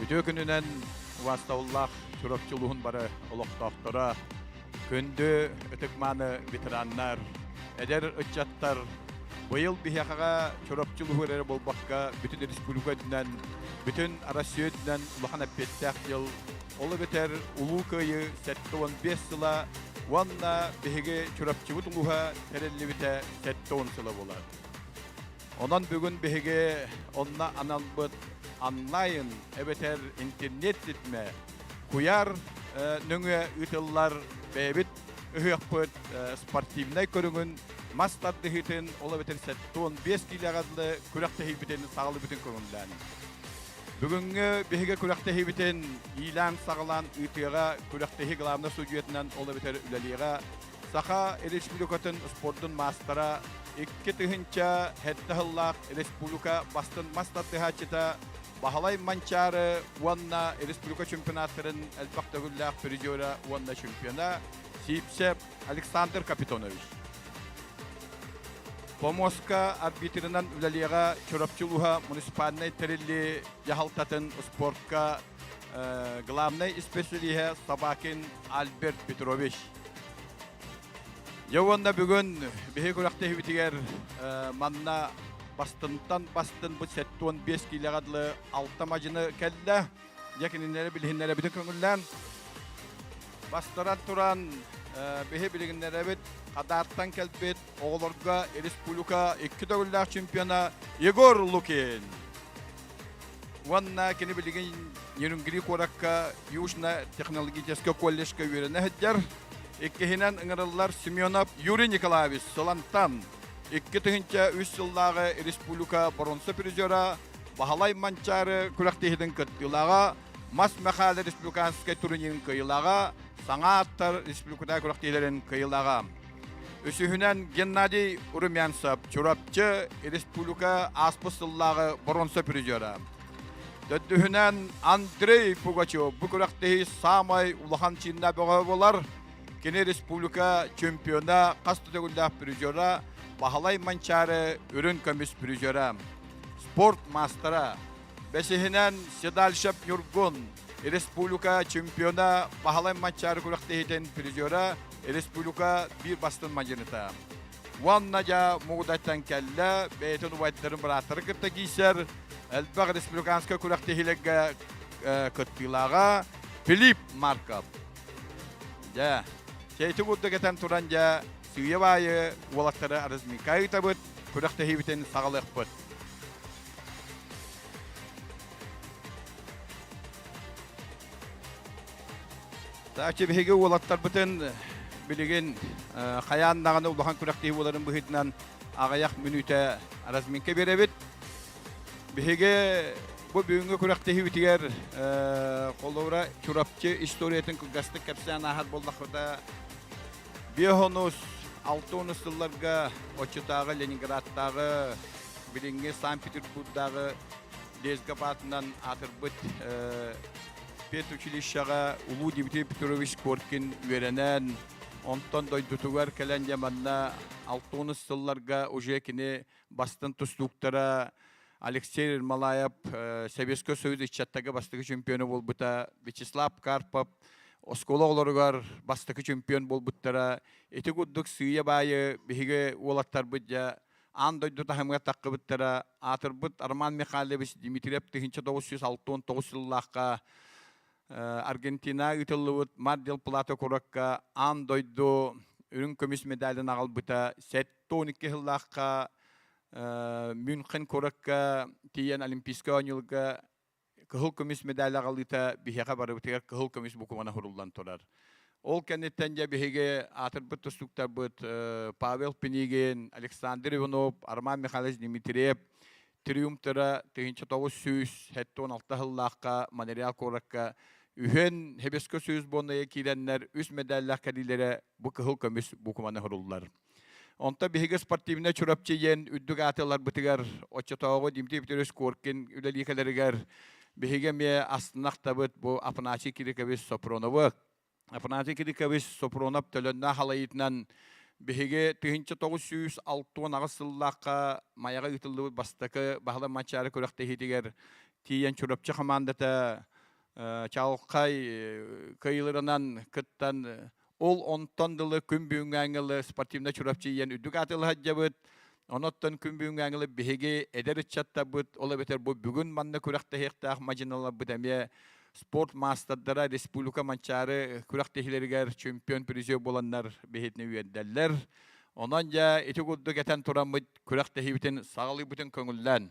Үтүө күнүнэн убастабыллаах Чурапчы улуһун бары олохтоохторо, күндү ытык-мааны ветераннар, эдэр ыччаттар, быйыл биһиэхэҕэ Чурапчы улуһу эрэ буолбакка, бүтүн республика үрдүнэн, бүтүн Россия үрдүнэн улахан эппиэттээх дьыл. Ол эбэтэр Улуу Кыайыы сэттэ уон биэс сыла уонна биһиги Чурапчыбыт улуһа тэриллибитэ сэттэ уон сыла буолар. Онон бүгүн биһиги онно аналбыт онлайн эбэтэр интернет ситимэ куйаар нөҥүө ыытыллар бэйэбит ыһыахпыт спортивнай көрүҥүн мас тардыһыытын ол эбэтэр сэттэ уон биэс киилэҕэ күрэхтэһиибитин саҕалыыбытын көрүҥлээн. Бүгүҥҥү биһиги күрэхтэһиибитин иилээн-саҕалаан ыытыаҕа күрэхтэһии главнай судьуйатынан ол эбэтэр үлэлиэҕэ Саха Республикатын спордун маастара, икки тыһыынча сэттэ сыллаах республика бастыҥ мас тардыһааччыта Баһылай Манчаары уонна республика чемпионаттарын элбэх төгүллээх призера уонна чемпиона Сиипсэп Александр Капитонович. Помоска арбитрынан үлэлиэҕэ Чурапчы улууһа муниципальнай тэрилли дьаһалтатын спортка э, главнай исписэлииһэ Собакин Альберт Петрович. Дьэ уонна бүгүн биһи күрэхтэһибитигэр манна бастынтан бастын бу сэттэ уон биэс киилэҕэ дылы алта мадьыны кэллэ. Дьэ кинилэри билиһиннэрэ бүтүн көҥүллээн. Бастаран туран биһи билигиннэрэбит Хадаартан кэлбит оҕолорго республика икки төгүллээх чемпиона Егор Лукин. Уонна кини билигин Нерюнгри куоракка Южно-технологическай колледжка үөрэнэ сылдьар. Иккиһинэн ыҥырыллар Семенов Юрий Николаевич Солантан. Икки тыһыынча үс сыллааҕы республика боронса призера Баһылай Манчаары күрэхтиһиитин кыттыылааҕа, мас Мэхээлэ республиканскай турнирын кыайыылааҕа, саҥа аттар республикатааҕы күрэхтиһиилэрин кыайыылааҕа. Үсүһүнэн Геннадий Румянцев, Чурапчы республика ааспыт сыллааҕы боруонса призера. Төрдүһүнэн Андрей Пугачев бу күрэхтэһии саамай улахан чиннэ бөҕө болар. Кини республика чемпиона хас төгүллээх призера, Баһылай Манчаары үрүн көмүс призера, спорт мастера, Бэсиһинэн Седальшев Ньургун республика чемпиона баһылай матчаар күрэхтэһиитин призера республика биир бастын мадьыныта. Уонна дьа мугудайтан кэллэ бэйэтин убайдарын бырааттары кытта киисэр элбэх республиканскай күрэхтэһиилэргэ кыттыылааҕа Филипп Марков. Дьэ, чэйти будда кэтэн туран дьэ сыыйабайы уолаттары арызмикайытабыт күрэхтэһиибитин саҕалыахпыт. Тааччы биһиги уолаттарбытын билигин хайаан даҕаны улахан күрэхтиһи буоларын быһыытынан аҕыйах мүнүүтэ разминка биэрэбит. Биһиги бу бүгүҥҥү күрэхтиһиибитигэр холобура Чурапчы историятын кылгастык кэпсээн ааһар буоллахпыта Биохонус алтонус сылларга Оччутааҕы Ленинградтааҕы билиҥҥи Санкт-Петербурдааҕы лездcap аатынан аатырбыт педучилищеҕа улуу Дмитрий Петрович Коркин үөрэнэн, онтон дойдутугар кэлэн дьэ манна алтонус сылларга уже кини бастын тустууктара Алексей Малаев Советской Союз ыччаттагы бастакы чемпиона болбута Вячеслав Карпов оскола олоругар бастакы чемпион болбуттара ити курдук сыыйа-баайы биһиги уолаттарбыт дьа аан дойду таһымга таққыбыттара аатырбыт Арман Михайлович Дмитриев тыһынча тоғыз жүз алтон тоғыз сыллаахха Аргентина ыытыллыбыт Мардел Плата куракка аан дойду үрүҥ көмүс медалин аҕалбыта сэттэ он икки сыллаахха Мюнхен куракка тиийэн Олимпийскай оонньуулга кыһыл көмүс медаль аҕалыыта биһиэхэ барыбытыгар кыһыл көмүс букубана суруллан турар. Ол кэнниттэн дьэ биһиги аатырбыт тустууктарбыт Павел Пинигин, Александр Иванов, Арман Михайлович Дмитриев триумтера тыһынча тоҕус сүүс сэттэ уон алта сыллаахха Монреал куоракка үһүөн хэбискэ сүүс буоннайа киирэннэр үс медаллаах кэлиилэрэ бу кыһыл көмүс буукуманы һуруллар. Онто биһиги спортивнай Чурапчы диэн үрдүк аатыларбытыгар оччотооҕу Дмитрий Петрович Коркин үлэлиихэлэригэр биһиги эмиэ астынахтабыт бу Апаначи Кирикович Сопроновы Афанасий Кирикович Сопронов төлөннөөх халайытынан биһиги тыһынча тоғыз сүүс алтуон аҕыс сыллаахха Майаҕа ыытыллыбыт бастакы Баһылай Манчаары күрэхтэһиитигэр тиийэн Чурапчы хамаандата чалхай кыйылырынан кыттан ол онтон дылы күн бүгүҥҥү ангелы спортивнай Чурапчы ийэн үрдүк аатылы саддьабыт Онуттан күн бүгүҥҥэ ангылы биһиги эдэр ыччаттарбыт, ол эбэтэр бу бүгүн манна күрэхтэһиэхтээх мадьыналарбыт эмиэ спорт маастардара республика Манчаары күрэхтэһиилэригэр чемпион призер буоланнар биһитини үөрдэллэр. Онон дьэ ити курдук этэн тураммыт күрэхтэһиибитин саҕалыыбытын көҥүллээн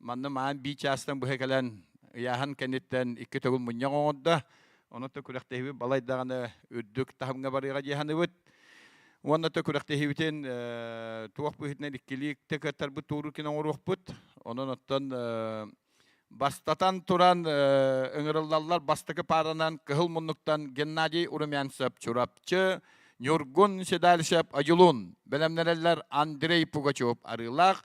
Манна маан бии чаастан быһа кэлэн ыйааһын кэнниттэн икки төгүл мунньах оҥордо. Онон күрэхтэһиибит балайдаҕына үрдүк таһымҥа барыыга дьиһаныбыт. Уонна то күрэхтэһиибитин туох быһыытынан иккилии кыттарбыт туурукин оҥоруохпут. Онон оттон бастатан туран ыҥырыллаллар бастакы пааранан кыһыл муннуктан Геннадий Урумянцев Чурапчы, Ньургун Седальшев Адьулун, бэлэмнэрэллэр Андрей Пугачев Арыылаах,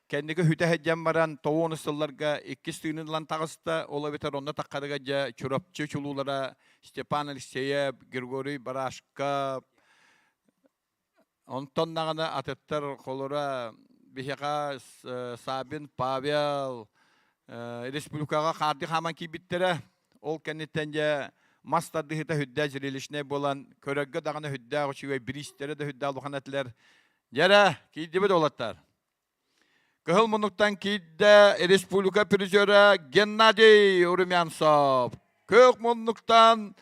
Кэнники хүтэ сылдьан баран тоуон сылларга иккис тыынын ылан таҕыста, ол эбэтэр онно таххарыга дьэ Чурапчы чулуулара Степан Алексеев, Григорий Барашка, онтон даҕаны атыттар холоро биһиэхэ Сабин Павел республикаҕа хаардыы хааман киирбиттэрэ. Ол кэнниттэн дьэ мас тардыһыта хүддээх зрелищнэй буолан көрөргө даҕаны хүддээх үчүгэй бириистэрэ да хүддээх улахан этилэр. Дьэрэ, киирдибит олаттар. Кыһыл мунуктан киирдэ республика призера Геннадий Урумянцев. Кыһыл мунуктан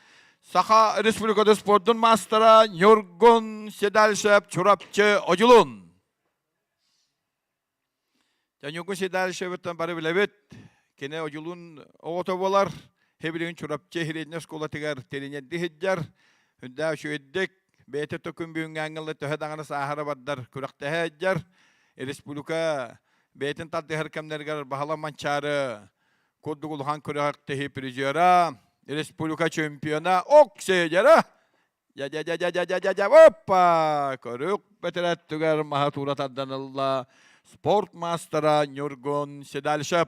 Саха Республиката спордун мастера Ньургун Седальшев Чурапчы Одьулун. За Ньургун Седальшевиттан бары билэбит. Кини Одьулун оҕото болар. Хебилигин Чурапчы хириэнньэ оскуолатыгар тириньэрди хиддер. Хүндээх үшүөддик бэйэтэ то күн бүгүҥҥү ангелла төһө даҕаны сааһыра бардар күрэхтэһэ сылдьар республика бэйэтин тардыһар кэмнэригэр баһала манчаары курдук улахан күрэхтэһии призера республика чемпиона ок сеядера я я я я я я я я опа көрүк бэтэрәттүгэр маһа туура тарданылла спорт мастера Нюргун Седальшев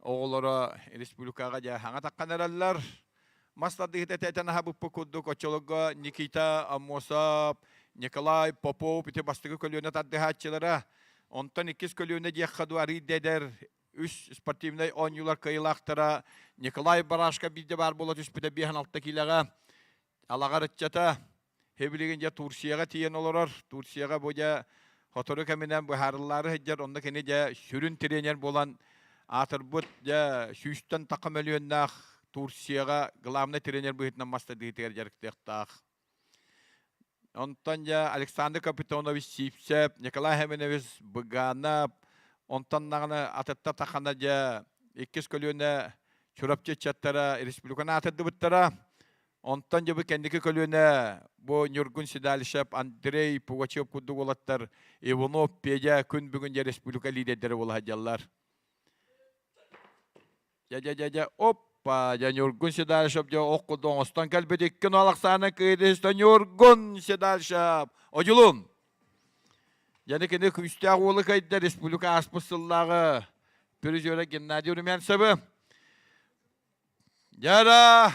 оҕолоро республикаҕа дьааһаҥа таххан эрэллэр мас тардыһыыта тэтэн аһабыппыт курдук оччолорго Никита Аммосов Николай Попов ити бастакы көлүөнэ тардыһааччылара онтон иккис көлүөнэ диэххэ дуу арыый дэдэр үс спортивнай оонньуулар кыайыылаахтара Николай Барашко биирдэ баар буола түспүтэ биэһин алта киилэҕэ алаҕар ыччата Хэбилигин дьэ Турцияҕа тиийэн олорор. Турцияҕа бу дьэ сотору кэминэн быһаарыллаары сылдьар, онно кини дьэ сүрүн тренер буолан аатырбыт дьэ сүүстэн такка мөлүйүөннээх Турцияҕа главный тренер быһыытынан мастардыытыгар дьарыктыахтаах. Онтон дьэ Александр Капитонович Сивцев, Николай Хеменевич Быганов, онтон наҕана атытта тахана дьэ иккис көлүөнэ Чурапчы ыччаттара республиканы аатырдыбыттара. Онтон дьэ бу кэнники көлүөнэ бу Ньургун Седалищев, Андрей Пугачев курдук уолаттар Иванов, Педя күн бүгүн дьэ республика лидердэрэ буола сылдьаллар. Дьэ дьэ дьэ дьэ оппа дьэ Ньургун Седалищев дьэ ох курдук оҥостон кэлбит икки Нуалахсааны кыйдыста Ньургун Седалищев одьулун. Яны кини күүстээх уолу кайда республика ааспыт сыллааҕы призера Геннадий Румянцевы Дьара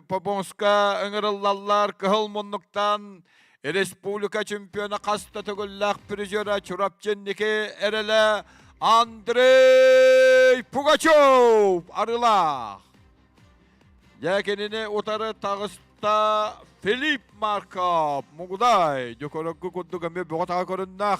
Попонска ыҥырыллаллар кыһыл муннуктан республика чемпиона хас да төгүллээх призера Чурапчынники эрэлэ Андрей Пугачев арыылаах. Дьэ кинини утары таҕыста Филипп Марков. Мугудай Дьөкөрөггө курдук эмиэ бөҕө таҕа көрүннэх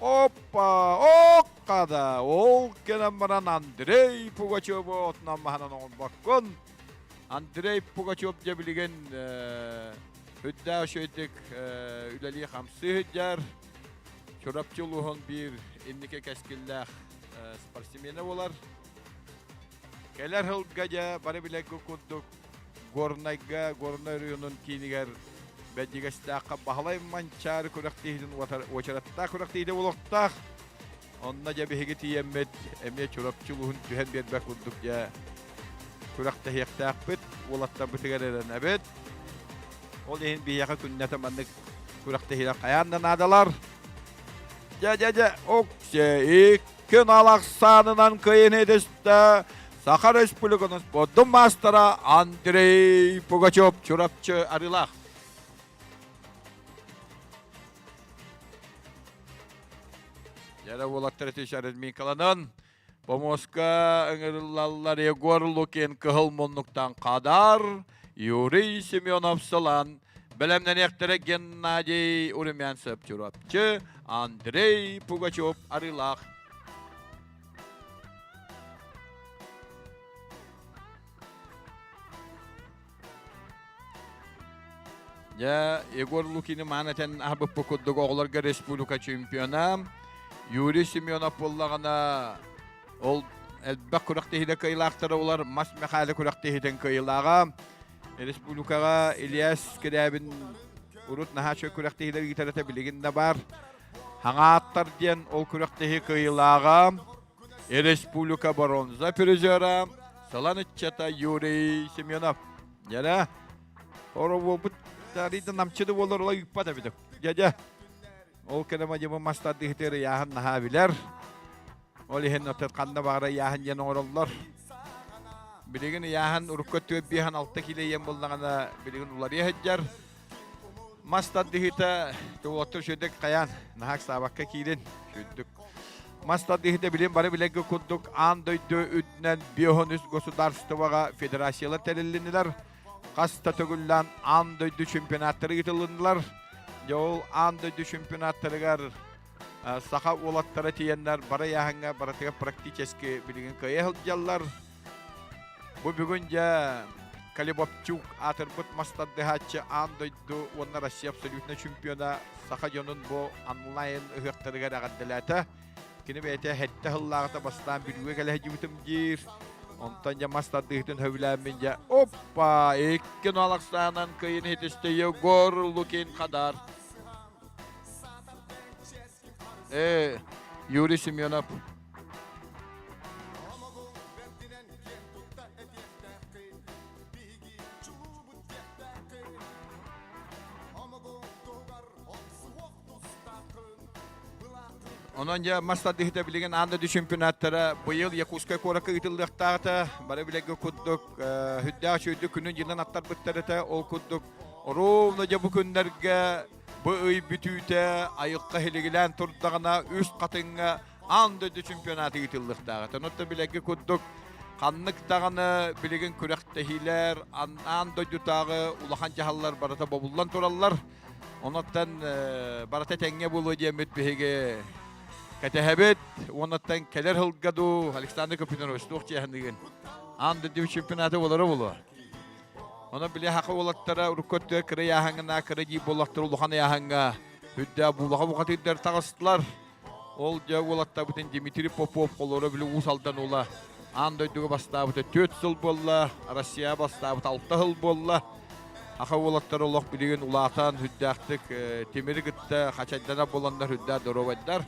Опа, окка да, ол кэлэн баран Андрей Пугачеву отунан маһынан оҥорбоккун. Андрей Пугачев дьэ билигин үрдээх үчүгэйдик үлэлии хамсыы сылдьар. Чурапчы улууһун биир инники кэскиллээх спортсмена болар. Кэлэр сылга дьэ бары билэргин курдук Горнайга, Горнай оройуонун киинигэр Бэдьигэстээххэ Баһылай Манчаары күрэхтиһиитин уочараттаах күрэхтиһиитэ олохтоох. Онно дьэ биһиги тиийэммит эмиэ Чурапчы улууһун түһэн биэрбэт курдук дьэ күрэхтэһиэхтээхпит, уолаттарбытыгар эрэнэбит. Ол иһин биһиэхэ күннэтэ маннык күрэхтэһиилэр хайаан да наадалар. Дьэ, дьэ, дьэ, уксэ, ик, Көнал ахсаанынан кыайын эдэстэ Саха Республикатын спордун маастара Андрей Пугачев Чурапчы Арылах. Яра Волаттаратич Арминкаланын Помоска ыҥырыллаллар Егор Лукин кыһыл муннуктан кадар Юрий Семенов-Сылан бэлэмнэниэхтэрэ Геннадий Урумянцев Чурапчы, Андрей Пугачев Арыылаах Дьэ, Егор Лукины маанытын аһбыппы курдук оҕолорго республика чемпиона Юрий Семенов буллаҕына Ол элбэх күрэхтэһиилэр кыайылаахтара олар Мас Мэхээлэ күрэхтэһиитин кыайылааҕа. Республикаҕа Ильяс Кирябин урут наһаа үчүгэй күрэхтэһиилэр ыытарата билигин да баар. Хаҥааттар диэн ол күрэхтэһии кыайылааҕа. Республика бронза призера Салан ыччата Юрий Семенов. Дьэрэ, хоровуопут тарида намчыды болар ола ыппат эбитик. Дядя, ол кэнэ мадьымы мастардыһытыыр ыйааһын наһаа билэр. Ол иһин оттон ханна баара ыйааһын диэн оҥороллор. Билигин ыйааһын урукку өттүгэр биэһэн алта кило ийэн буллаҕына билигин уларыйа сылдьар. Мас тардыһыыта туотту сүрдүк хайаан наһак саабакка киирин сүрдүк. Мас тардыһыыта билин бары билэргэ курдук аан дойду үрдүнэн биоһон үс государствоҕа федерациялар тэриллинилэр. Хас да төгүллээн аан дойду чемпионаттары ыытылыннылар. Дьэ ол аан дойду чемпионаттарыгар саха уолаттара тиийэннэр бары айааһыҥҥа барытыгар практически билигин кыайа сылдьаллар бу бүгүн дьэ Калибопчук аатырбыт мастардыһааччы аан дойду уонна Россия абсолютно чемпиона саха дьонун бу онлайн ыһыахтарыгар эҕэрдэлээтэ. Кини бэйэтэ 70 сыллааҕыта бастаан бүлүүгэ кэлэ сылдьыбытым диир. Онтон дьэ мастардыһытын сөбүлээммин дьэ оппа 2 налахсаанан кыйын хитистэйэ Гор Лукин Хадар Э, Юрий Семенов. Онон дьэ мастардыһыта билигин Андады чемпионаттара быйыл Якутскай куоракка ыытыллыахтаахта. Бары билэргэ курдук э, хүндээх чөйдүк күнүн дьылынан аттарбыттар этэ. Ол курдук Ровно дьэ бу күннэргэ бу ый бүтүүтэ айыкка хилигилээн турдаҕына үс хатыҥҥа аан дойду чемпионаты ыытыллыахтааҕа. Оттон билэргэ курдук ханнык даҕаны билигин күрэхтэһиилэр аан дойдутааҕы улахан дьаһаллар барыта бобуллан тураллар. Онуттан барыта тэҥҥэ буолуо диэммит биһиги кэтэһэбит. Онуттан кэлэр сылга дуу Александр Копынович туох чиэһинигин? Аан дойду чемпионаты болоро болуо. Ону били хака уолаттара урукку өттө кыра яһаңына кыра дии боллохтор улахан яһаңга үрдэ буулаха бухатыйдар тахыстылар. Ол дьэ уолаттарбытын Дмитрий Попов холоро били уус алдан ула аан дойдуга бастаабыта 4 сыл буолла, Россия бастаабыта 6 сыл буолла. Аха уолаттар олох билигин улаатан хүддээхтик темир кытта хачайдана боланнар хүддэ доровайдар.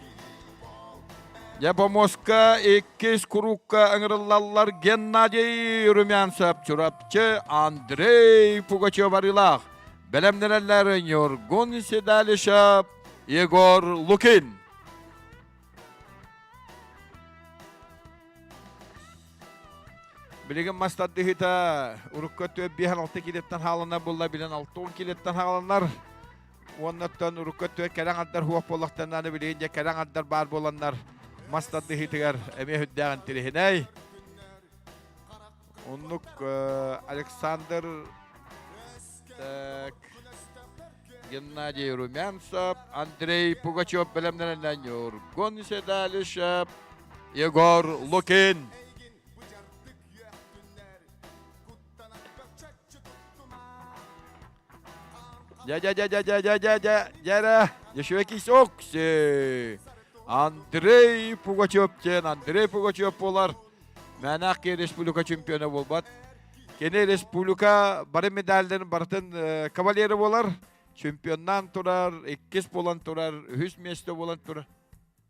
Дьэ, бомуоска иккис курукка ыҥырыллаллар Геннадий Румянцев, Чурапчы Андрей Пугачев арыылаах. Бэлэмнэнэллэр Ньургун Седалишев, Егор Лукин. Билигин мас тардыһыыта урукка 4-5-6 килеттан хааланар булла билэн 6-10 килеттан хааланар. Уоннаттан урукку өттүгэр кэрэ аҥардар хуох буоллахтарына, билигин дьэ кэрэ аҥардар баар буоланнар мас тардыһыытыгар эмиэ сүрдээх интириһинэй. Оннук Александр так, Геннадий Румянцев, Андрей Пугачев бэлэмнэнэннэн Ньургун Седалишев, Егор Лукин. Дядя, дядя, дядя, дядя, дядя, еще якийсь окси. Андрей Пугачев диэн, Андрей Пугачев болар. Мәнәк республика чемпионы болбат. Кини республика бары медальдарын бартын кавалеры болар. Чемпионнан турар, иккис болан турар, үһүс месте болан турар.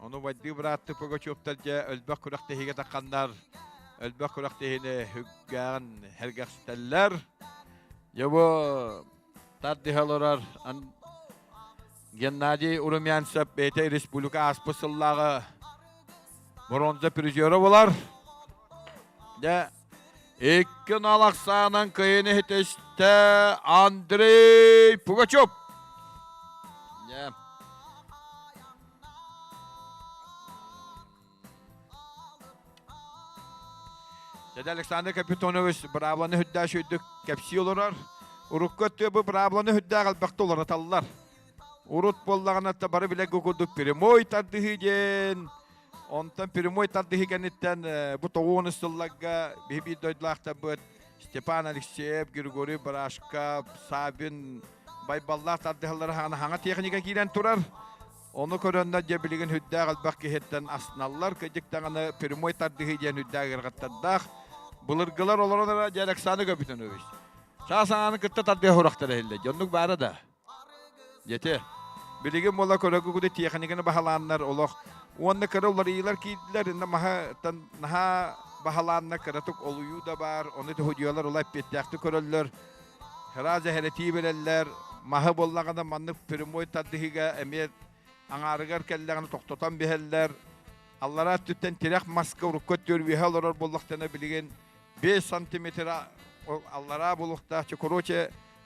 Ону вайдыы бырааттык Пугачевтар дьэ өлбөх күрэхтэһиигэ тахханнар өлбөх күрэхтэһиини үггээн эргэхситэллэр. Дьэ бу тардыһа олорор Геннадий Урумянцев бэйэтэ республика ааспыт сыллааҕы бронза призера болар. Дьэ Икки налахсаанан кыйын иһитистэ Андрей Пугачев. Yeah. Дядя Александр Капитонович брабланы хүддээш үрдүк кэпсии олорор. Урукку өттүбү брабланы хүддээх элбэхте уларыталлар. Урут буоллаҕына та бары билэргэ курдук прямой тардыһыы диэн Онтон прямой тардыһы кэнниттэн бу тоҕуон сылларга биһи биир дойдулаахтарбыт Степан Алексеев, Григорий Брашков, Савин Байбаллаах тардыһаллара хаана техника киирэн турар. Ону көрөннөр дьэ билигин хүндээх элбэх киһиттэн асналлар. Кыдьык даҕаны прямой тардыһы диэн хүндээх ирҕаттардаах. Былыргылар олорон дьэ Александр Габитонович. Саа санааны кытта тардыһа хурахтар эһиллэр. Дьоннук баара да. Дьэти, билигин буола көрөгүгүдү тиэхиникини баһалааннар олох уонна кыра уларыйыылар киирдилэр инна маһыттан наһаа баһалаанна кыратык олуйуу да баар ону тыһудьуйалар ула эппиэттээхтик көрөллөр раз эһэрэтии береллэр маһы боллагана маннык прямой тардыһыга эмиэ аңаарыгар кэллэҕин тохтотон биһэллэр аллара өттүттэн тирэх маска урукка төрүөһэ олорор боллохтана билигин 5 сантиметр аллараа булуктаах короче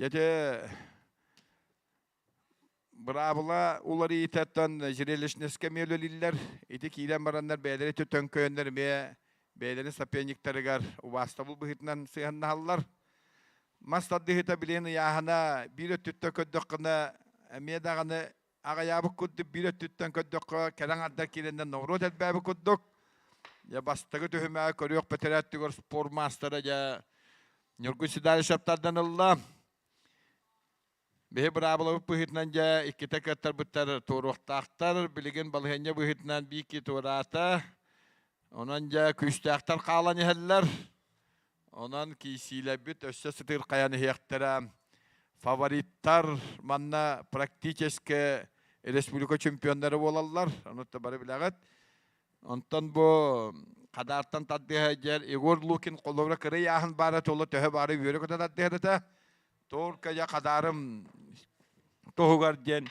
Дьэдэ быраабыла уларыйтаттан зрелищнэскэ миөлөлүллэр ити киирэн бараннар бэйэлэри төтөҥкөөннөр эмиэ бэйэлэри сапенниктарыгар убаастабыл быһыытынан сыһаннаһаллар мас тардыһыта билин ыйааһына биир өттүттэн көрдөххүнэ эмиэ даҕаны аҕыйаабыт курдук биир өттүттэн көрдөххө кэлэн ардар киирэннэн ноҕуруот элбээбит курдук я бастакы түһүмэҕи көрүөх бэтэрээтигэр спорт маастара дьэ Ньургун Седалищевтардан ылла биһи быраабылабыт быһыытынан дьэ иккитэ кыаттарбыттар туоруохтаахтар билигин балыһыанньа быһыытынан биики туораата онон дьэ күүстээхтэр хаалан иһэллэр Онон киисиилэрбит өссө сытыыр хайан иһиэхтэрэ. Фавориттар манна практически республика чемпионнары буолаллар. Ону да бары билэҕит. Онтон бу Хадаартан тардыһа дьэр Егор Лукин холобура кырый ааһын баара тула төһө баары үөрө көтө тардыһата. Туоркая Хадарым туһугар диэн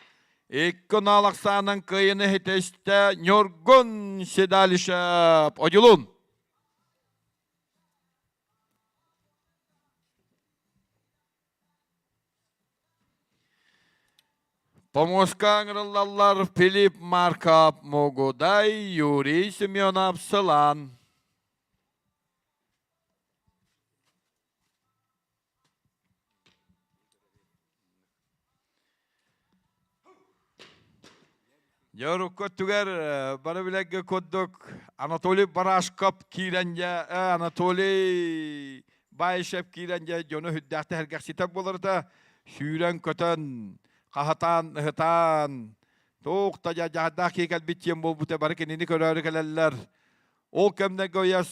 Икки налақсаның кыйыны хитесте Ньургун Седалишев. Одюлун! Хомуска ыҥырыллаллар Филипп Маркап Могудай Юрий Семенов сылаан Дьэ урукку өттүгэр бары билэргэ курдук Анатолий Барашков киирэнгэ Анатолий Баишев киирэнгэ дьону хүддэхтэ хэргэхситэр боларыта сүүрэн көтөн хаһатаан ыһытаан туукта дьадаах киикэлбит тиэн буолбута бары кинини көрөөрү кэлэллэр ол кэмнэргэ ойос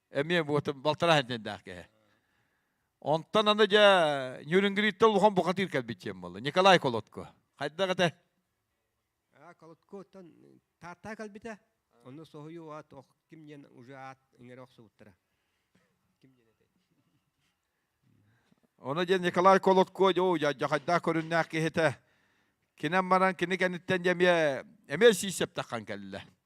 эмиэ буотум балтараа хэнтэндээх кэһэ онтон аны дьэ нюрингриттан улахан бухатыыр кэлбит диэн буолла николай колодко хайдах этэ колодко оттон тааттаа кэлбитэ онно соһуйу аат ох ким диэн уже аат иҥэре охсубуттара ким диэн этэ оны диэн николай колодко дьо жахайдаах көрүннээх киһитэ кинен баран кини кэнниттэн эмиэ эмиэ сиисептахан кэллэ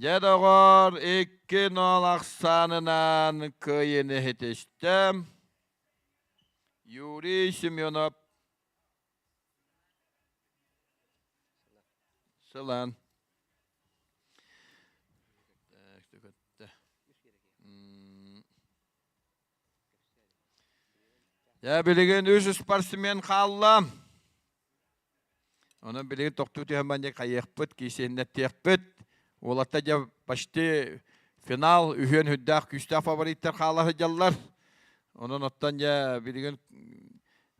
Дьэ, доҕоор, икки нуол ахсаанынан кыайан иһитистим. Юрий Семенов. Сылан. Я билигин үс спортсмен хаалла. Онон билиги тохтуу түһэммэн дии хайыахпыт, киисиэннэттиэхпит. Уолатта дьэ почти финал үһүөн хүндээх күүстээх фавориттар хаала сылдьаллар. Онон оттон дьэ билигин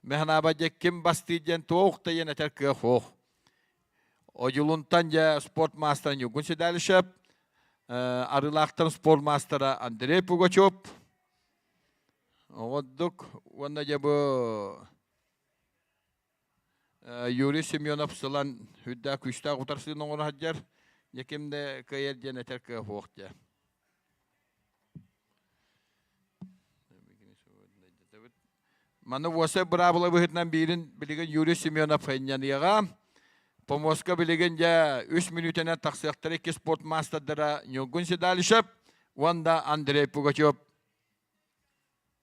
мэхэнааба дьэ ким бастыыр диэн туох тайын этэр кыах оох. Одьулунтан дьэ спорт маастара Ньугун Седалишев, арылаахтан спорт маастара Андрей Пугачев. Оҕоддук уонна дьэ бу Юрий Семенов сылан үрдээх күүстээх утарсыыны оҥоро сылдьар Ньэким да кыайар диэн этэр кыафуох дьэ Маны уосай быраабыла быһыытынан биирин билигин Юрий Семенов инньаныаҕа Помоска билигин дьэ үс мүнүүтэнэн тахсыахтара икки спорт маастардара Ньургун Седалищев уонна Андрей Пугачев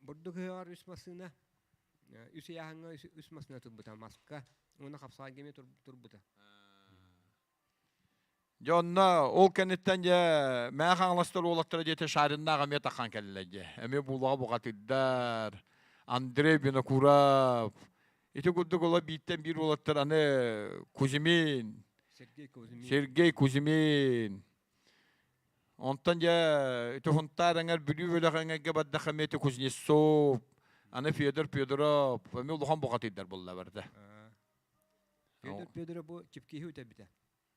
Бурдук ыһыаҕар үс массыына, үс ыйааһыҥҥа үс, үс массыына турбута, маска уонна хапсалагемия турбута. Дьонно ол кэнниттэн дьэ мээ хаҥаластар уолаттара диэте шариннаах эмиэ таххан кэллилэр дьэ. Эмиэ буулаҕа буҕатыйдар. Андрей Винокуров. Ити курдук оло бииртэн биир уолаттар аны Кузьмин. Сергей Кузьмин. Сергей Кузьмин. Онтон дьэ Туһунтаар эҥэр Бүлүү бөлөх эҥэргэ бардахха миэти Кузнецов, аны Федор Федоров, эмиэ улахан бухатыйдар булла барда. Федор Федоров бу чипкиһи үтэрбитэ.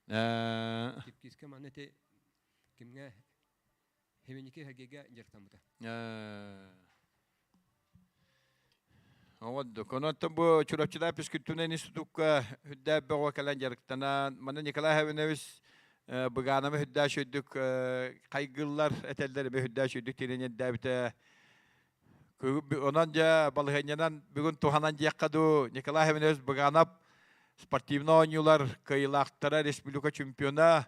Э. Чипкиска манна ити кимҥэ Химиники Хагига дьарыктаммыта. Э. Оҕоддук. Онуоттан бу Чурапчыда физкультурнай институкка үрдээх бөҕө кэлэн дьарыктанан, манна Николай Хавинович Быганова үрдээх үрдүк хайгыллар этэллэр бу үрдээх үрдүк тирин ирдээбитэ онон дьэ балыһынньанан бүгүн туһанан диэххэ дуу Николай Хавинович Быганов спортивнай оонньуулар кыайыылаахтара республика чемпиона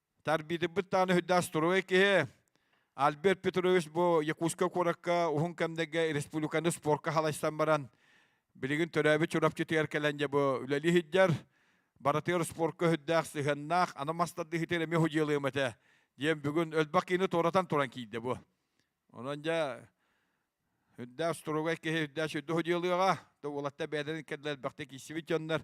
Тарбиитиппит дааны хүддаас туруой киһи Альберт Петрович бу Якутскай куоракка уһун кэмнэргэ республиканы спорка халайсан баран билигин төрөөбүт Чурапчытыгар кэлэн дьэ бу үлэлии иһиддэр барытыгар спорка хүддээх сыһыаннаах ана мастардыһытыр эми худьыалыам этэ диэн бүгүн өлбөх киини туоратан туран киирдэ бу онон дьэ үрдээс туругай киһи үрдээс үрдү худьыалыаҕа да уолатта бэйэлэрин кэллэр бэхтэ киисибит дьоннор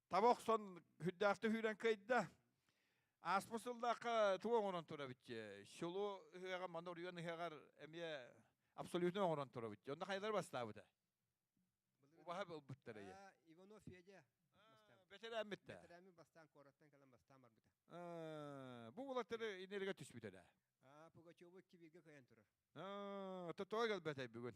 таба охсон хүддаахта хүүрэн кыйда ааспы сыллаахха туга оҥорон тура битче шулу ыһыаҕа маны уруйан ыһыаҕар эмиэ абсолютно оҥорон тура битче онно хайдары бастаабыта убаһа ылбыттар эйэ иванов федя бэтэрээммиттэ бэтэрээммин бастаан куораттан кэлэн бастаан барбыта бу улаттары инеригэ түспүтэ да пугачевы кибирге кыйан турар тоҕо келбэтэй бүгүн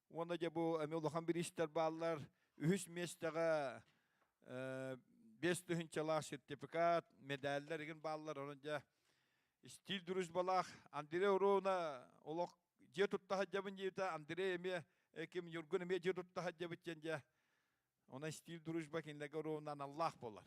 Уонна дьэ бу эми улахан бириистэр бааллар. Үһүс миэстэҕэ бес тыһынчалаах сертификат, медальлар игин бааллар. Онон дьэ стиль дружбалаах Андрей Уровна олох дьиэ туттаха дьабын диэбитэ Андрей эмиэ ким Ньургун эмиэ дьиэ туттаха дьабыт диэн дьэ. Онон стиль дружба кинилэргэ Уровна аналлаах болар.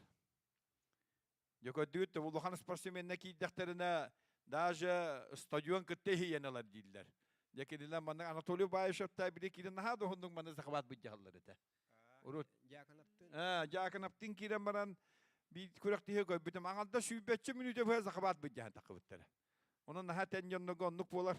Дьөкөрдүгүт улахан спортсменна киирдэхтэринэ даже стадион кытта иһийэн ылар дииллэр. Дьэ кинилэр манна Анатолий Баишевта били киирэн наһаа да уһуннук маны захват быдьаһаллар этэ. Урут. Дьаакынаптын. Э, Дьаакынаптын киирэн баран биир күрэхтиһи көрбүтүм. Аҥарда сүүрбэччэ мүнүүтэ быһа захват быдьаһан тахыбыттара. Онон наһаа тэн дьоннорго оннук буолар.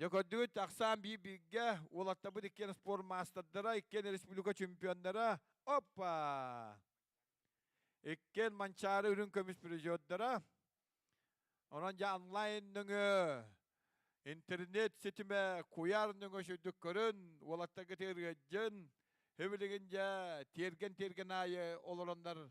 Дьэ көрдүгүт тахсан биир бииргэ уолаттабыт иккиэн спорт маастардара, иккиэн республика чемпионнара. Опа! Иккиэн Манчаары үрүҥ көмүс призердара. Онон дьэ онлайн нөҥө интернет ситимэ куйаар нөҥө сүрдүк көрүн, уолаттарга тиэргэтжин, Хөвилигин дьэ тиэргэн-тиэргэн аайы олороннор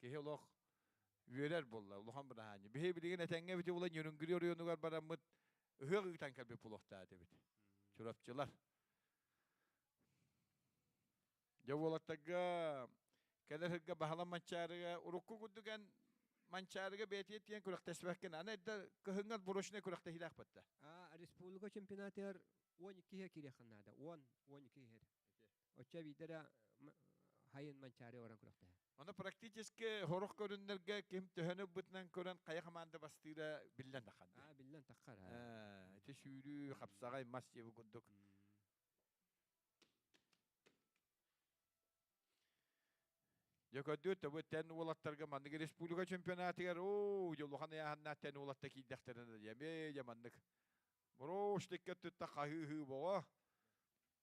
Киһи олох үөрэр буолла, улахан быраһаанньа. Биһи билигин этэҥҥэ эбити булан Ньүрүнгүлү оройуонугар бараммыт, ыһыах ыытан кэлбит булуохтаат эбит. Чурапчылар. Дьэ уолаттарга кэлэр ырга баһалам Манчаарыга урукку курдуган Манчаарыга бэйэтиэ тиэн күрэхтэспэккин аны эрдэ кыһынган бурошный күрэхтэһиилээх батта а республика чемпионатыгар 12 иһэр кириэххэ наада 10 12 иһэр Оччо биирдэрэ хайын Манчаары орон күрөхтэһэ. Аны практически хорох көрүннэргэ ким төһөнү бытынан көрөн хайа хамаанда бастыыра биллэн таххар. Аа биллэн таххар. Эти сүүрүү, хапсаҕай мас диэби курдук. Дьэ көрдүү төбө тэн уолаттарга маннык республика чемпионатыгар оо дьолухан айаһанна тэн уолатта киирдэхтэринэ диэме дьэ маннык. Брошникке тутта хаһыы боҕо.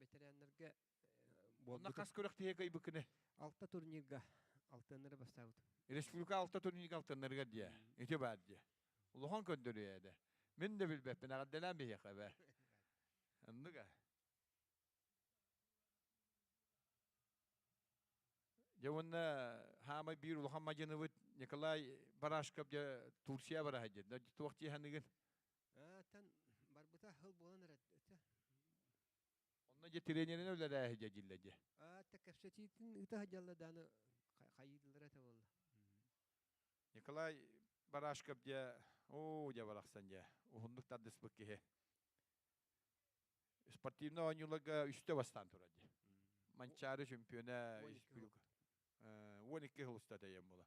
ветераннарга Онна хас күрэх кыйбыкыны? Алта турнирга алтыннары бастаабытым. Республика алта турнирга алтыннарыгар дия. Ити баар дия. Улахан көрдөрүө да. Мин да билбеппин аҕаддалаан биһиэхэ бэ. Анныга. Дьэ уонна хаамай биир улахан мадьыныбыт Николай Барашков дьэ Турция бараһа дьэ. Туох тиһаныгын? Аттан барбыта хыл буолан эрэ өтө. Онно дьэ тренерин үлэлээһи дьэ дьиллэ дьэ. Атта кэпсэтиитин ыта хадьалла дааны хайыыллара это болла. Николай Барашков дьэ оо дьэ барахсан дьэ уһуннук тардыспыт киһи. Спортивный оонньууларга үстэ бастаан турар дьэ. Манчаары чемпиона 12 хыл уста тэйэн була.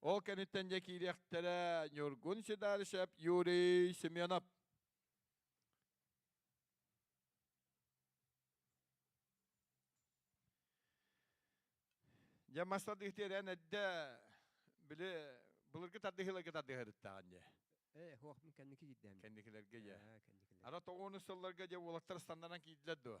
Ол кэнниттэн дьэ киириэхтэрэ Ньургун Сидаришев Юрий Семенов. Дьэ маста дыхтиэрэн эдде били былыргы тардыһыыларга тардыһарыттаан дьэ. Э, хоох мун кэнники киирдэм. Кэнникилерге дьэ. Кэнникилер. Ара тоҕуну сылларга дьэ уолаттар стандаран киирдилэр дуо?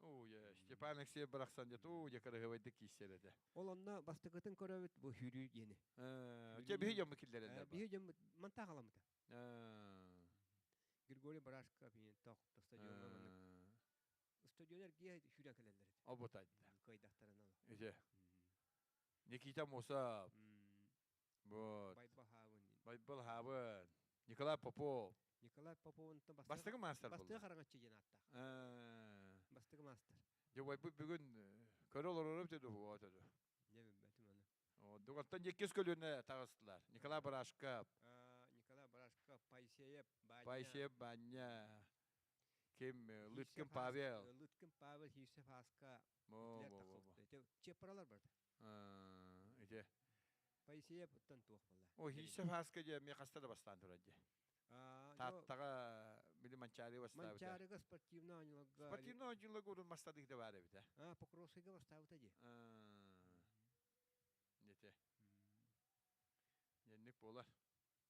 Ууе, Степан Алексеев барахсан дьэ уу дьэ кыраһыабайдык киирсэр этэ. Ол онно бастакытын көрөбүт бу хүрүү диэни. Дьэ биһи дьоммут киллэрэллэр. Биһи дьоммут мантаа халамыта. Григорий Барашков ийин тох то стадиоҥҥа маннык устудьуонар гиэ сүүрэн кэлэллэр этэ. Обутайда. Кыайдахтарына ол. Иде. Никита Мусов. Вот. Байбылһаабын. Николай Попов. Николай Поповунтан бастыгы, бастыгы мастер бастыгы хараҥаччы диэн ааттаах. Бастыгы мастер. Дьэ байбыт бүгүн көрө олорорум деді буға төді. Дьэ білбәтім оны. Дуғаттан еккес көлүнө тағыстылар. Николай Барашков. Николай Барашков, Пайсеев Баня. Пайсеев Баня. Кем Лыткин Павел. Лыткин Павел, Хирсев Аска. Чепаралар барда. Ити. Поисея туох була? Ой, еще хаска дьэ, мне хаста да бастаан турат дьэ. Тааттаҕа били Манчаары бастаабыта. Манчаарыга спортивный оонньууларга. Спортивный оонньууларга урун мастадык да бар эбитэ. А, Покровскайга бастаабыта дии. Нете. Ненник болар.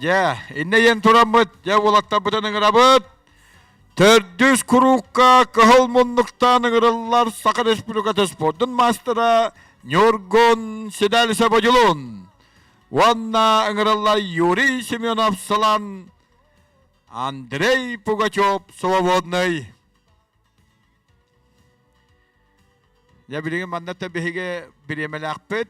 Дьэ, иннэ ийэн тураммыт, дьэ уолаттарбытын ыҥырабыт. Төрдүс куруука кыһыл муннуктаан ыҥырыллар Саха Республиката спордун маастара Ньургун Седалиса Бодилун уонна ыҥырыллар Юрий Семенов Салан Андрей Пугачев Свободный. Я билигин манната биһиги бириэмэлээхпит.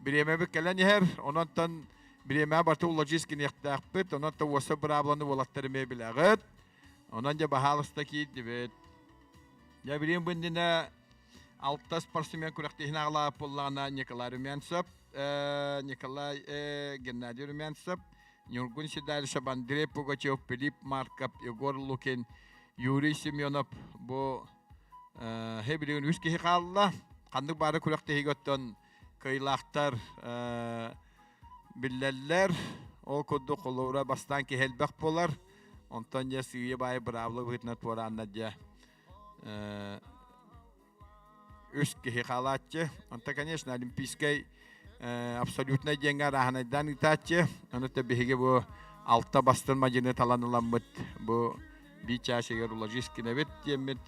Бириэмэбит кэлэн иһэр, ононтон бириэмэҕэ барыта уложист гиниэхтээхпит, ононтон уоса быраабыланы уолаттар эмиэ билэҕит. Онон дьэ баһаалыста киирдибит. Я билигин бу иннинэ алта спортсмен күрэхтэһин аҕалаабыт буоллаҕына Николай Румянцев, Николай Геннадий Румянцев, Нюргун Седальсов, Андрей Пугачев, Филипп Марков, Егор Лукин, Юрий Семенов бу һэ билигин үс киһи хаалла. Ханнык баары күрэх тиһигэ оттон кыйлахтар биллэллэр. Ол курдук холуура бастаан киһи элбэх болар. Онтон дьэ сыыйа баай быраабла быһытынан туораанна дьэ үс киһи хаалааччы. Онто, конечно, олимпийскай абсолютнай диэҥҥэ арааһынайдаан ыытааччы. Онута биһиги бу алта бастын мадьыны талан ыламмыт бу би чаасыгар уложись кинэбит диэммит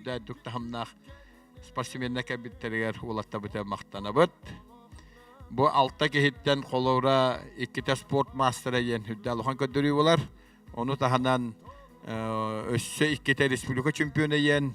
дойдук таһымнаах спортсменна кэбиттэригэр улаттабыта махтанабыт. Бу алта киһиттэн холура иккитэ спорт мастера диэн үрдэ алахан көрдөрүү болар. Ону таһынан өссө иккитэ республика чемпиона диэн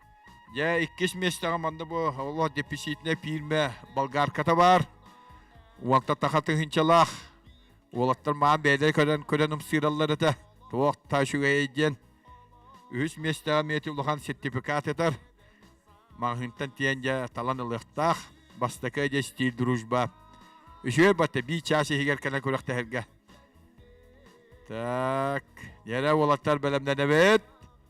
Дьэ, иккис миэстэҕэ манна бу олох деписитнэ пиирмэ болгарката баар. Уолта таха тыһынчалаах. Уолаттар маан бэйдэ көрөн көрөн ымсыыраллар этэ. Туох та үчүгэй диэн. Үһүс миэстэҕэ миэти улахан сертификат этэр. Маҕаһыынтан тиэн дьэ талан ылыахтаах. Бастакы дьэ стиль дружба. Үчүгэй батта би чаас иһигэр кэлэн күрэхтэһэргэ. Так, дьэрэ уолаттар бэлэмнэнэбит.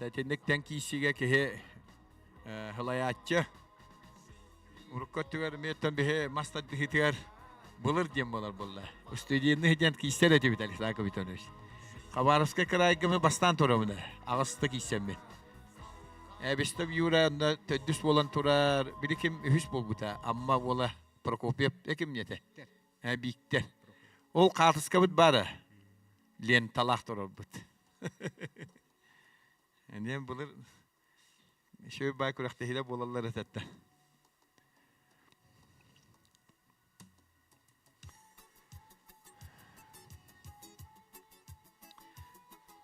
Итинниктэн киисигэ киһи хылайааччы урукку өттүгэр эмиэттэн биһи мас тардыһыытыгар былыр диэн болар болла устудиенный диэн киистер этибит Александр Витальевич Хабаровскай кыраайга мы бастаан турамына аҕыста кииссэммит Эбистов Юра онно төрдүс буолан турар били ким үһүс буолбута Амма уола Прокопьев экимниэте бииктэр ол хаартыскабыт баара ленталаах турарбыт эниэн былыр шөй бай күрэхтэһиилэ буолаллар этэтте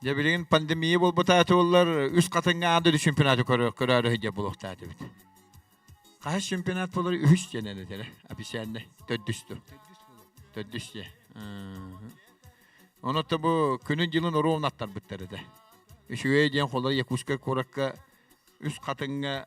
Дьэ билигин пандемия буолбутаатылар үс хатыҥҥа аады чемпионаты көрөөрү сыһдьа булуохтаатыбыт. Хас чемпионат болар үһүс дьэнэн этэрэ официальный төрдүсту. Төрдүс дьэ. Онотто бу күнүн дьылын оруон аттарбыттар этэ. Үчүгэй диэн холар Якутскай куоракка үс хатыҥҥа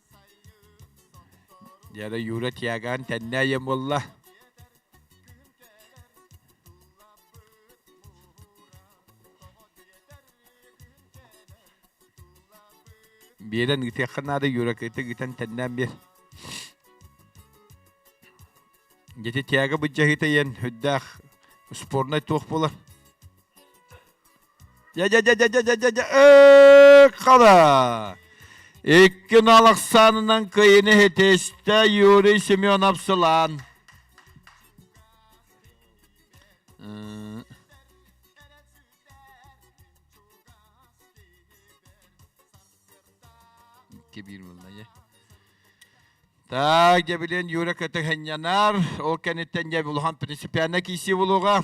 Дьэ, Юра Тиагаан тэннээйэн буолла. Биэрэн ыытыахха наада Юра кытта ыытан тэннээн биэр. Дьэти Тиага быдьаһыта иэн үрдээх спорнай туох болар. Дьэ-дьэ-дьэ-дьэ-дьэ-дьэ-дьэ-дьэ-дьэ-дьэ-э-хала! Икки нал ахсаанынан кыйыны хитистэ Юрий Семенов сылаан. Икки биир буолла дьэ. Так, дьэ билин Юра көтө ханньанар, ол кэнниттэн дьэ улахан принципиальна киисии булуга.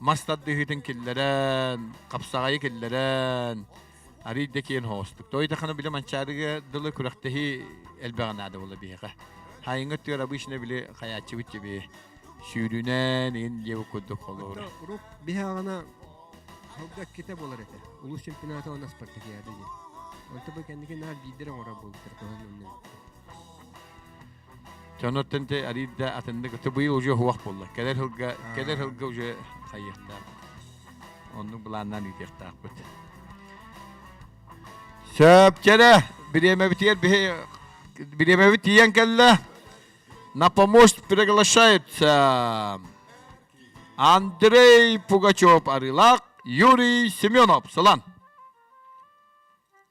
мас тардыһыытын киллэрэн, хапсаҕайы киллэрэн, арыйда киэн хоостук. Той таханы били манчаарыга дылы күрэхтэһии элбэҕэ наада була биһиэхэ. Хайыҥа тыар обычно били хаyaаччыбыт тебе сүүрүнэн ин левый курдук холуур. Урук биһаҕана халга ките болар этэ. Улус чемпионата она Спартакиада ди. Онто бу кэнники наар биидер оҥоро бултар кылын Дьонуттан дьэ ариирда атыннык аты быйыл уже хуах булла. Кэлэр сылга кэлэр сылга уже хайыахтаах. Оннук былааннан иитиэхтаахпыт. Сөпчэрэ бириэмэбитигэр биһи бириэмэбит тиийэн кэллэ. На помощь приглашает Андрей Пугачев Арылак, Юрий Семенов. Сылан.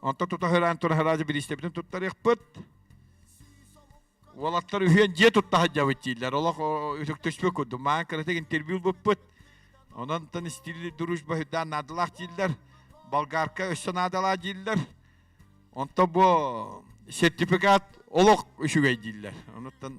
Онтон тута һыраан туран һыраадьы бириистэбитин туттарыахпыт. Уолаттар үһүөн дьиэ тутта сылдьабыт дииллэр. Олох үтүктүспүт курдук. Маан кыратык интервью булбуппут. Ононтон стиль дружба үрдээн наадалаах дииллэр. Болгарка өссө наадалаах дииллэр. Онтон бу сертификат олох үчүгэй дииллэр. Онуттан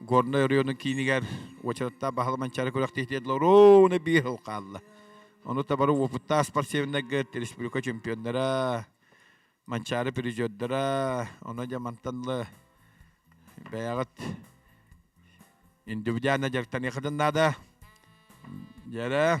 Горнай оройуонун киинигэр уочараттаах баһылык Манчаары күрэхтиһитэ Лорона Биехл хаалла. Ону табары уопуттаах спортсменнарга республика чемпионнара, Манчаары призердара, ону дьэ мантанла бэйэҕит индивидуально дьарыктаныахытын наада. Дьэрэ,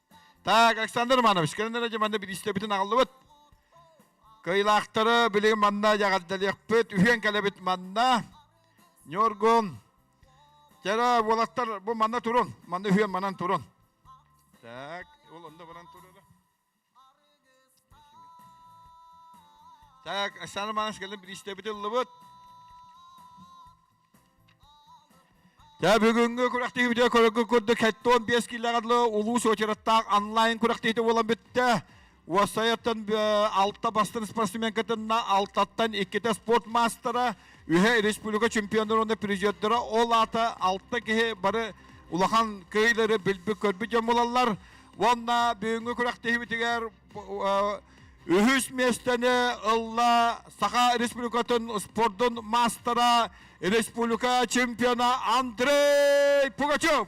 Так, Александр Романович, кэннилэр эдьи манна биристэбитин аҕаллыбыт. Кыйлаахтары билигин манна яҕаддалыахпыт. Үһүөн кэлэбит манна. Ньургун. Кэрэ, буолаттар, бу манна турун. Манна үһүөн манан турун. Так, ол онда манан турun. Так, Александр Романович кэлин биристэбити ыллыбыт. Дьэ бүгүҥҥү күрэхтиһиибитэ көрөргүт курдук кэтти он биэс киллэҕэ улуус очереттаах онлайн күрэхтиһиитэ буолан бүттэ. Уоссайаттан алта бастан спортсменкатынна алтаттан иккитэ спорт маастара, үһэ республика чемпиондара уонна президенттара ол аата алта киһи бары улахан кыһыйлары билбит көрбүт дьон буолаллар. Уонна бүгүҥҥү күрэхтиһиибитигэр үһүс миэстэни ылла Саха Республикатын спордун маастара, республика чемпиона Андрей Пугачев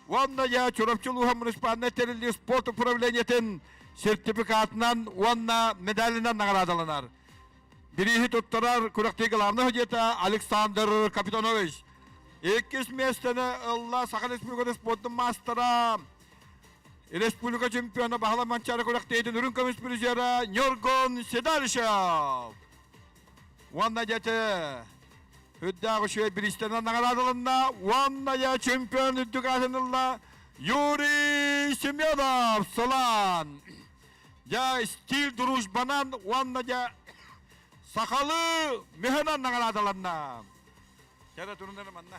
уонна я Чурапчы улууһун муниципальнай тэриллии спорт управлениетын сертификатынан уонна медалынан наҕараадаланар. Бирииһи туттарар күрэхтии главный дьиэта Александр Капитонович. Иккис миэстэни ылла Саха Республикатын спорттун маастара Республика чемпиона баһыла Манчаары күрэхтэһиитин үрүҥ көмүс призера Ньоргон Седарышев уонна дьэти үрдээх үчүгэй бириистэнэн наҕараадаланна уонна я чемпион үрдүк аатынылла Юрий Семенов Сылан я стиль дружбанан уонна я сахалы мөһөнөн наҕараадаланна кэрэ турунар манна